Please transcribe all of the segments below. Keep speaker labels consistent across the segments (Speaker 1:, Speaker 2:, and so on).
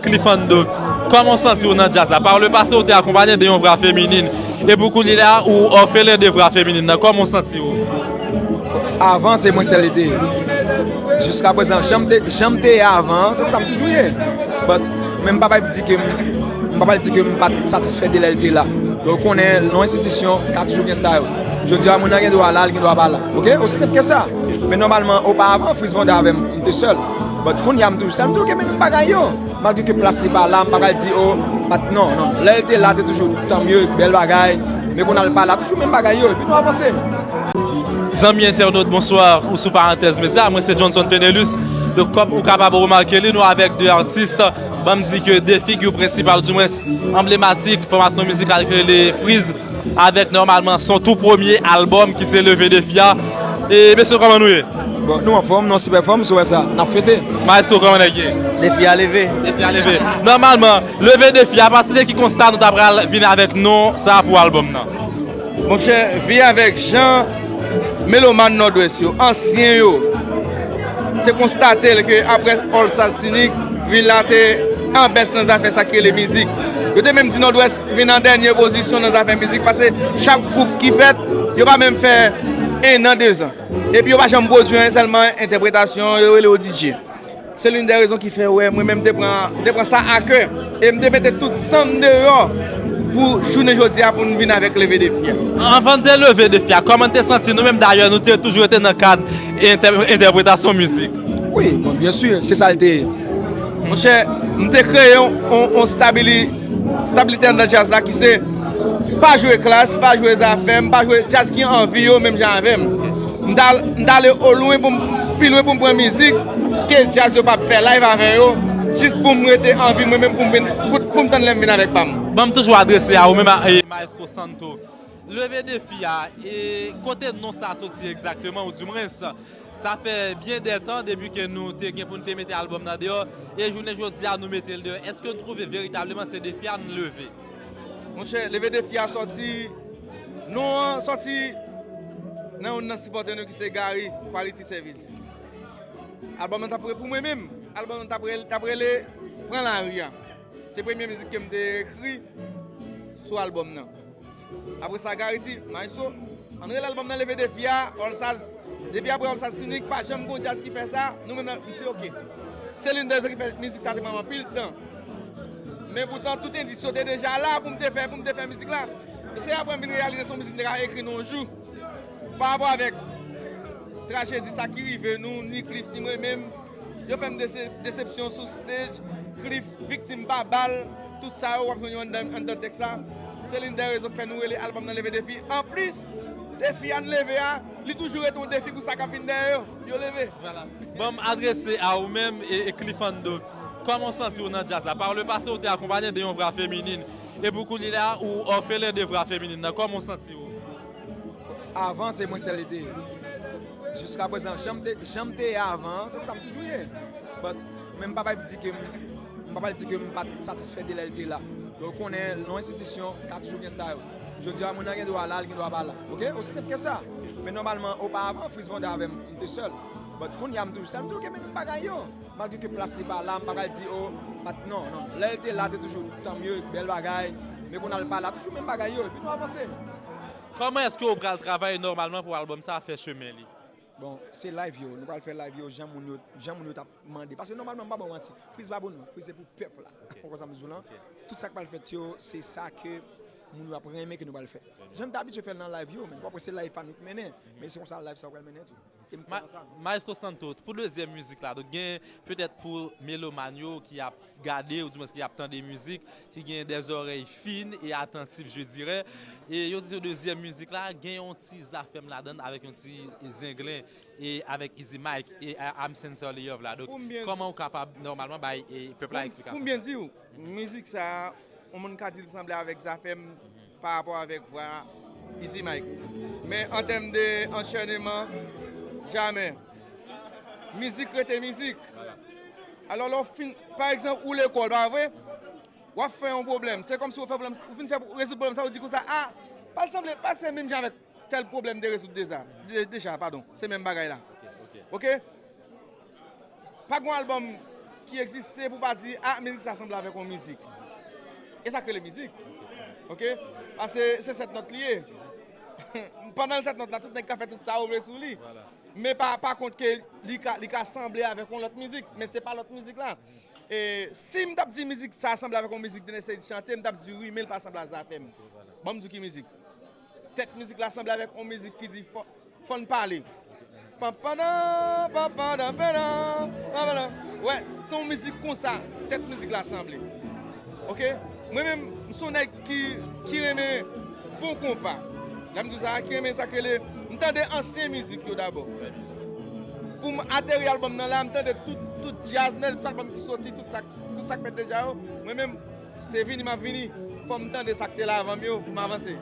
Speaker 1: Cliffando, kòman w santi w nan djaz la? Par le pase ou te akonpanye de yon vwa feminin, e pou kounye la a ou òfelen de vwa feminin nan, kòman w santi w?
Speaker 2: Avan se mwen sèl li te ye, jiska prezan jan m te, jan m te ye avan an se konsa m toujou ye, but men m pa pral di ke m, m pa pral di ke m pa t satisfè de lè l te la, men ou konnen nan yon enstitisyon ka toujou gen sa yo, jodi a moun nan gen dwa la, li gen dwa pa la, ok, osi senp ke sa, men nòmalman opa avan Fritz Vanda avè m, m te sèl. But kounya m toujou sa m toujou gen menm bagay yo malgre ke plas li pa la m pa pral di oh m pa t non non lè l te la te toujou tan mye bèl bagay men kounya l pa la toujou menm bagay yo epi nou avanse. Zanmi
Speaker 1: entènot bonswa ou sou parantèz medya mwen se Johnson Fenelus donk kòm ou kapab remake li nou avèk 2 atis banm di ke 2 figi prensipal di mwens anblematik fòmasyon mizikal ki rele Frizz. Avèk nòmalman son tou premye albòm ki se Leve Defi a E mesye kòman nou ye? Bon nou anfòm, nou an
Speaker 2: sipè fòm, sou wè sa, n ap fete! Maestro kòman nèg ye?
Speaker 1: Defi a leve!
Speaker 3: Defi a leve!
Speaker 1: Nòmalman, Leve Defi a pati de ki konsta nou ta pral vin avèk non sa pou albòm nan? Monchè,
Speaker 3: vin avèk jan melomàn Nòdwès yo, ansyen yo, te konstate l ke aprè All Stars Sinik, vil la te anbès nan zafè sa ki rele mizik. Yo te menm di Nòdwès Vin an dènye pozisyon nan zafè mizik pase chak gwoup ki fèt yo pa menm fè ennan dezan epi yo pa janm pwodui anyen sèlman entèpretasyon yo rele yo DJ se loun dè rezon ki fè wè mwen menm te pran sa akè e m te mete tout san m deyò pou jounen jodi a pou n vin avèk leve defi a. Anvan n te leve
Speaker 1: defi a kòman n te santi nou menm dayè nou te toujou rete nan kad entèpretasyon mizik. Wi bon byensi
Speaker 2: se sa l te ye. Monchè
Speaker 3: m te kreye yon stabilite. Stabilite anndan djaz la ki se pa jwe klas, pa jwe zafèm, pa jwe djaz ki anvi yo menm jan avèm. M ta m ta ale o lwen pou m pi lwen pou m pran mizik ke djaz yo pap fè live avè yo jis pou m rete anvi mwen menm pou m vin pou m tann lè m vin avèk pa m. Ban m toujou adrese
Speaker 1: a ou menm ak Maestro Santo. Leve defi a e kote non sa soti egzakteman ou di mwens. Sa fè byen dè tan depi ke nou te gen pou nou te mete album nan deyò, e jounen jodi a nou mete l deyò. Eske nou twouve veritableman se defi a nou leve? Monchè,
Speaker 3: leve defi a sòti, non an sòti nan youn nan sipòtè nou ki se Gary Quality Services. Album nan t ap, pou mwen menm, album nan t ap rele Pran lari a. Se premye mizik ke m te ekri sou album nan. Apre sa Gary di, Maestro, an n rele albòm nan Leve Defi a, All Saz. Depi apre All Saz Sinik, pa janm gen yon djaz ki fè sa, nou menm nan, m di ok. Se linn dè rezon ki fè mizik sa te pran m anpil tan. Men poutan, tout endis yo te deja la pou m te fè, pou m te fè mizik la. E se apre m vin reyalize se yon mizik m te ka ekri nan yon jou. Parapò avèk trajedi sa ki rive nou, ni Cliff ni mwen menm. Yo fèm desepsyon sou stage Cliff viktim pa bal tout sa yo wap jwenn yo anndan tèks la se lin dè rezon k fè nou rele album nan leve defi anplis defi a n leve a li toujou rete yon defi pou sa kap vin dèyè yo yo leve. Banm
Speaker 1: adrese a ou menm e Cliffando kòman w santi w nan djaz la par le pase ou te akonpanye de yon vra feminin e pou koulye a ou orphelin de vra feminin nan kòman w santi w?
Speaker 2: Avan se mwen sèl li te ye. Jiska prezan janm te janm te ye avan an, se konsa m toujou ye. But men m pa bay pou di ke m m pa bay di ke m pa t satisfè de lè l te la. Lè w konnen nan enstitisyon ka toujou gen sa yo. Jodi a moun nan gen dwa la, li gen dwa pa la. Ok, osi senp ke sa. Men nòmalman oparavan Fritz Vanda avè m m te sèl. But kounye a m toujou sèl, m toujou kenbe menm bagay yo. Malgre ke plas li pa la, m pa pral di oh m pa t non non. Lè l te la te toujou tan mye, bèl bagay. Men kounye a l pa la, toujou menm bagay yo. Epi nou avanse. Kòman
Speaker 1: eske ou pral travay nòmalman pou album sa fè chemen li? Bon se
Speaker 2: live yo, nou pral fè live yo jan moun yo, jan moun yo tap mande. Pase nòmalman m pa ba w manti, Frees pa pou nou, Frees se pou pèp la. Ou konprann sa m di w lan? Tout sa k pral fèt yo se sa ke moun yo ap renmen ke nou pral fè. Jan n t abitye fè l nan live yo, men wap wè se live pa nou k mennen, men se konsa live sa yo pral mennen tou. Maestro
Speaker 1: Santo, pou dezyèm mizik la, donk gen petèt pou melomàn yo ki ap gade ou di mwens ki ap tande mizik, ki gen dè zòrèy fin e atantif je dirè, e yo di yo dezyèm mizik la gen yon ti zafèm ladann avèk yon ti zenglen e avèk Izi Mayk e I'm Sincerely Yours la. Donk kòman ou kapab nòmalman bay pèp la eksplikasyon sa? Pou m byen di ou,
Speaker 3: mizik sa a yon moun ka di l sanble avèk zafèm Pa rapò avèk vwa Izi Mike. Men an tèm de anchèneman, jamè. Mizik rete mizik. Alò lè w fin, pa egzanp ou lekòl, pa vre? W ap fè yon pwoblèm. Se kòmsi w fè pwoblèm, ou fin fè rezoud pwoblèm sa ou di konsa a, pa l sanble, pa l se menm jan avèk tèl pwoblèm m te rezoud deja, padon, se menm bagay la. Ok. Pa gen yon album ki egziste pou pa di ah mizik sa sanble avèk yon mizik. E sak rele mizik. Ok pase se 7 nòt li ye. Pandan 7 nòt la tout nèg ka fè tout sa yo vle sou li. Men
Speaker 1: pa kont
Speaker 3: ke li ka sanble avèk yon lòt mizik. Men se pa lòt mizik la. E si m tap di mizik sa sanble avèk yon mizik Dener Ceïd chante m tap di wi men li pa sanble a Zafèm. Banm di w ki mizik. Tèt mizik la sanble avèk yon mizik ki di fò n pale. Wè, se yon mizik konsa tèt mizik la sanble. Ok, mwen menm m son nèg ki renmen bon konpa. Lè m di w sa, ki renmen sa k rele, m tande ansyen mizik yo dabò. Pou m ateri albòm nan la, m tande tout djaz nan, tout albòm ki soti, tout sa k fèt deja yo. Se vini map vini, fòm tande sak te la avanm yo poum avanse.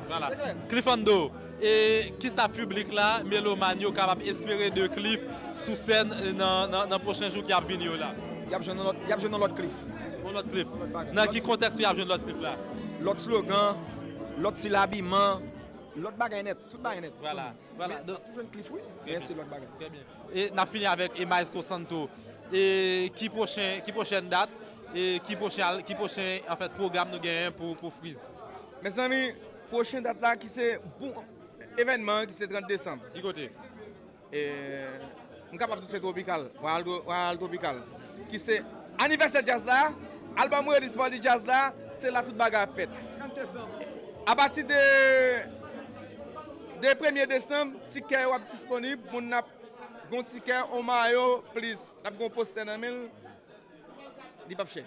Speaker 3: Cliffando,
Speaker 1: E kisa piblik la, melomàn yo kapab espere de Cliff sou sèn nan pwochen jou ki ap vini yo la? Yap
Speaker 2: jwenn yon lòt Cliff. Yon lòt Cliff.
Speaker 1: Nan ki kontèks ke yap jwenn lòt Cliff la? Lòt slogan,
Speaker 2: lòt stil abiman, lòt bagay nèt, tout bagay nèt. Vwala, vwala. Yap toujou
Speaker 1: jwenn Cliff wi,
Speaker 2: men se lòt bagay. Trè byen. E nap
Speaker 1: fini avèk e maestro Santo e ki pwochen ki pwochèn dat e ki pwochen al ki pwochen an fèt pwogram nou genyen pou pou friz. Mezanmi
Speaker 3: pwochen dat la ki se pou evènman an ki se 30 desanm. Ki kote?
Speaker 1: E
Speaker 3: m kapab di se Tropical, Royal Tropical. Ki se anivèsè djaz la, albòm Release Party Djaz la, se la tout bagay ap fèt. Apati de de premye desanm, tikè yo ap disponib, moun ap gen yon tikè, yon mayo, plis, l ap gen yon postè nan men l, li p ap chè.